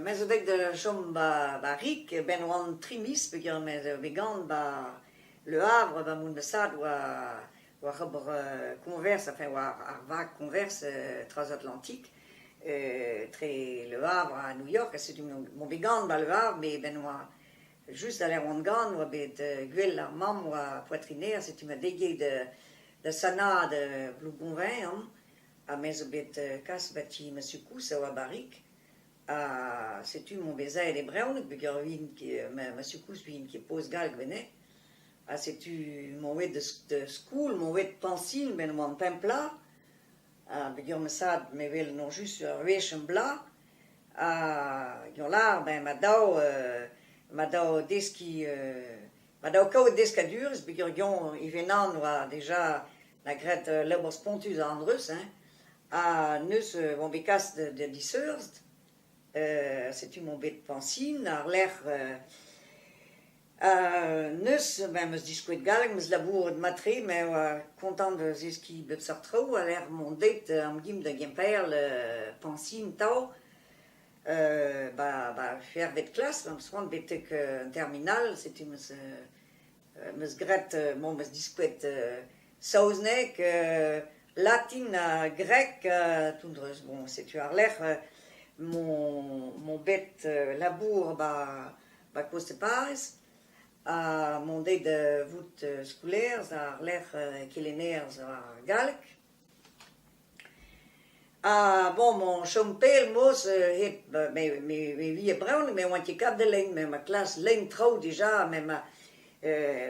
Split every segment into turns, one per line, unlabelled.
me zo deuet da chom ba rik e-benn 'oant tri miz peogwir me zo bet gant ba Le Havre ba Moundasad war ober koñvers enfin war ar vag koñvers Transatlantik tre Le Havre ha New York ha setu m'on bet gant ba Le Havre met e-benn 'oa just da lec'h 'oant gant 'oa bet gwel ar mamm 'oa poatrineer setu 'ma degouezhet da sanaat Blougonvin an. Ha me zo bet kas ba ti ma sukous a oa barrek ha setu emañ bet aet e brezhoneg peogwir vin ket ma sukous vin ket poz gall gwenneh ha setu emañ aet da skol emañ aet Pañsil met emañ an pemp plah ha peogwir ma sad me wel emañ just ur wech am bloaz ha peogwir lâr ben ma daou ma daou deskiñ Ma dao kaout deskadurezh peogwir ivez-naon oa deja 'na graet labour spontus a andreuz hein, ha neuz oan bet kaset da diseurzh, setu 'mañ bet Francine àr-lerc'h neuz ben 'meus diskouez galleg, 'meus labouret mat-tre met oa kontant da zeskiñ bep seurt traoù a-lec'h mont deit amgim da Gemperl Francine 'tav. ba ba c'hec'hvet klas am eus c'hoant betek an terminal setu am eus am eus graet bon am eus diskouez saozneg, latin ha greg ha toundreus bon setu war-lerc'h mon mon bet labour ba ba Coste-Paz ha mont dezhe da vout skolaer war-lerc'h kelenner ar galleg. Ah bon mon chom pell mos hep me vie bremañ me oan ket kavet lein met ma klas lein traoù dija met ma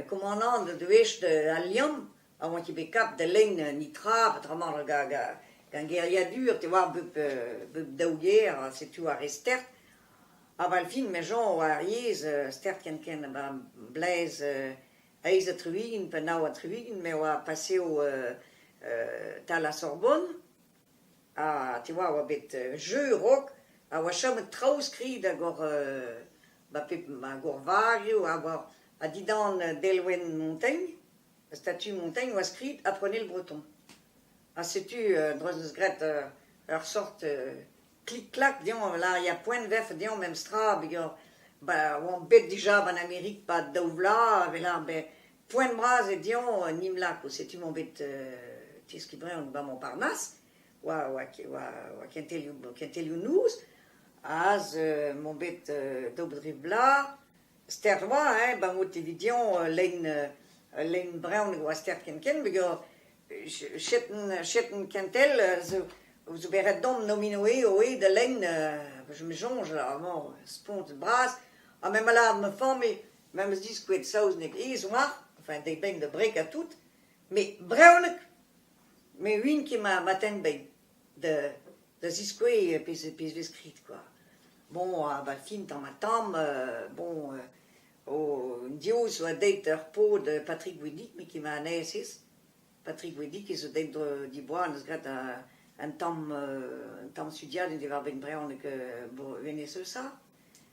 komanant o deus Al Liamm a oan ket bet kavet da lein netra peotramant gant geriadur te oar bep daou ger setu ar re stert ha 'val fin me soñj oa ar yezh stert ken ken 'ba Blaise eizh ha tri-ugent pe nav ha tri-ugent me oa paseo tal ar Sorbonne ha te oa oa bet jeu raok ha oa chomet traoù skrid hag oc'h ba pep ma gourvarioù ha war ha dindan delwenn Montaigne ar statue Montaigne oa skrid apprenez le breton ha setu dro'z eus graet ur sort Klik-klak deomp a lâria poent 'vefe deomp memestra peger ba oamp bet dija ba'n Amerik pad daou vloaz a-welc'h bet poent bras eo deomp un imlako. Setu emañ bet teskiñ bremañ bamañ parnas war war war kentelioù kentelioù-noz, aze emañ bet daou bet tri vloaz. stert oa hein, ben out evit dioñ lein lein brezhoneg oa stert ken-ken hag eo chetenn chetenn kentel zo zo bet ret domp nomino eo da lein je me soñj amañ spont bras ha me 'ma lâret ma familh me'm eus diskouez saozneg aes oar enfin deit beñ da breg ha tout met brezhoneg me 'uin ket ma tenn bein da da ziskouez pezh pezh vez skrid kwa. Bon, a-bad fin 'tañ ma tamm bon div zo deuet ur paotr Patrick Gwidig me ket ma anezhez. Patrick Gwidig e zo deuet diboa neus graet un tamm un tamm studiadenn diwar-benn brezhoneg hennezh eus ça.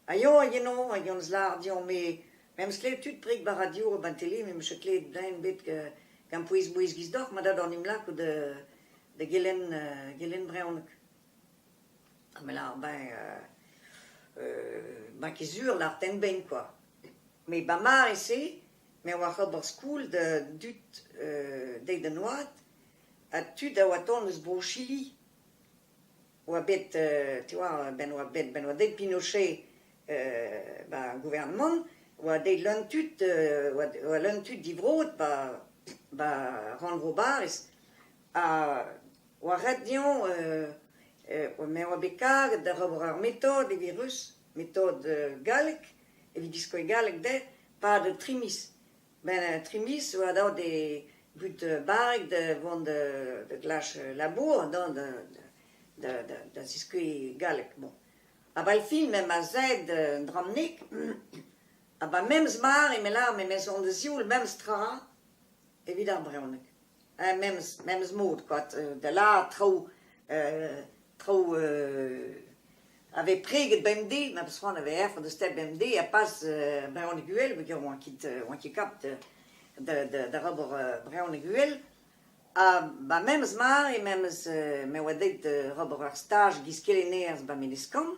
Ha yañ hag eno hag hon eus lâret deomp me m'em eus klevet tud preg bara div eo 'ba'n tele met 'meus klevet den bet gant pouez-mouezh 'giz deoc'h ma dad en em lakaout da gelenn gelenn brezhoneg. Ha me lâr ben ben ket sur lâr tenn-bein kwa. Met ba mare-se me oa ober skol da dud dezhi d'an oad ha tud a oa tont eus Bro-Chili. oa bet euh tu vois ben oa bet ben oa deuet Pinochet euh ba gouvernement oa deuet leun tud euh oa oa leun tud divrod ba ba rannvro Bariz ha oa ret dezhañ euh euh me oa bet karget da ober ur metod evit ruz metod euh gallek evit diskouez galleg dezhe pad tri miz Ben tri miz oa deuet e but barrek da vont da glask labour dont da ziskouez galleg. Bon, a-bell-fin me 'm eus aet d'an Dramnik ha 'ba memes mare me lâr me 'meus on da zioul memes tra evit ar brezhoneg. Hein, memes, memes mod, quoi, da lâret traoù, traoù a vez preget bemdez, ma peus c'hoant a vezañ o deus stêt bemdez, ha pas brezhoneg uhel, peogwir oan ket oan ket kapt da ober brezhoneg uhel. Ha ba memes mare, memes me oa deuet d'ober ur staj giz kelennerez ba Menezkan.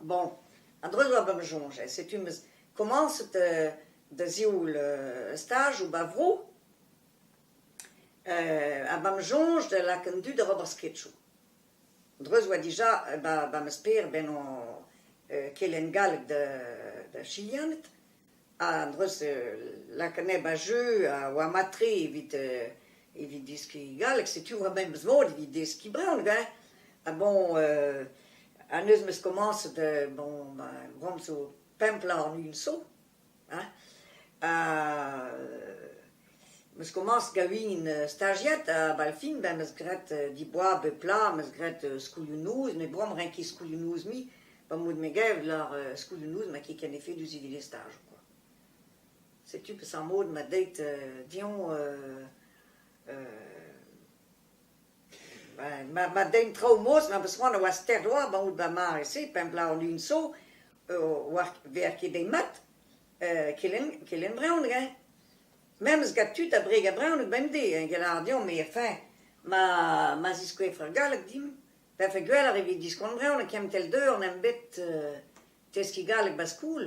Bon, a-dreuz oa be'm soñjal, setu 'm eus komañset da sioul staj ou ba vro, ha ba 'm soñj da lakaat an dud da ober sketchoù. A-dreuz oa dija ba ma sper bennañ kelenn galleg da Chilianed. An dreuze lakennet ba jeu a oa mat-tre evit evit deskiñ galleg. Setu ma memes mod evit deskiñ brezhoneg hein. Ha bon ha neuze 'meus komañset bon ma gomzo pemp bloaz warn-ugent zo hein. Ha 'meus komañset gaouin stajiad ha bal fin ben 'meus graet diboaz bep bloaz 'meus graet skolioù-noz met bon 'm renke skolioù-noz-mi. Pa 'm bout me gav lar euh skeudennoù ma ket ken efedus evit e staj quoi. Setu peseurt mod ma deit euh dezhañ euh euh ben ma ma dein traoù mos ma peus c'hoant a oa stert oa ba out ba mare-se pa em lar lun so oa ver ket dezhi mat euh kelenn kelenn brezhoneg hein. Memes gant tud abred a brezhoneg bemdez hein get lar deomp, mais fin ma ma ziskouef ur galleg dimp. Vefe gwell ar evit diskont brezhoneg, kentel deuh on em bet teskiñ galleg 'ba skol.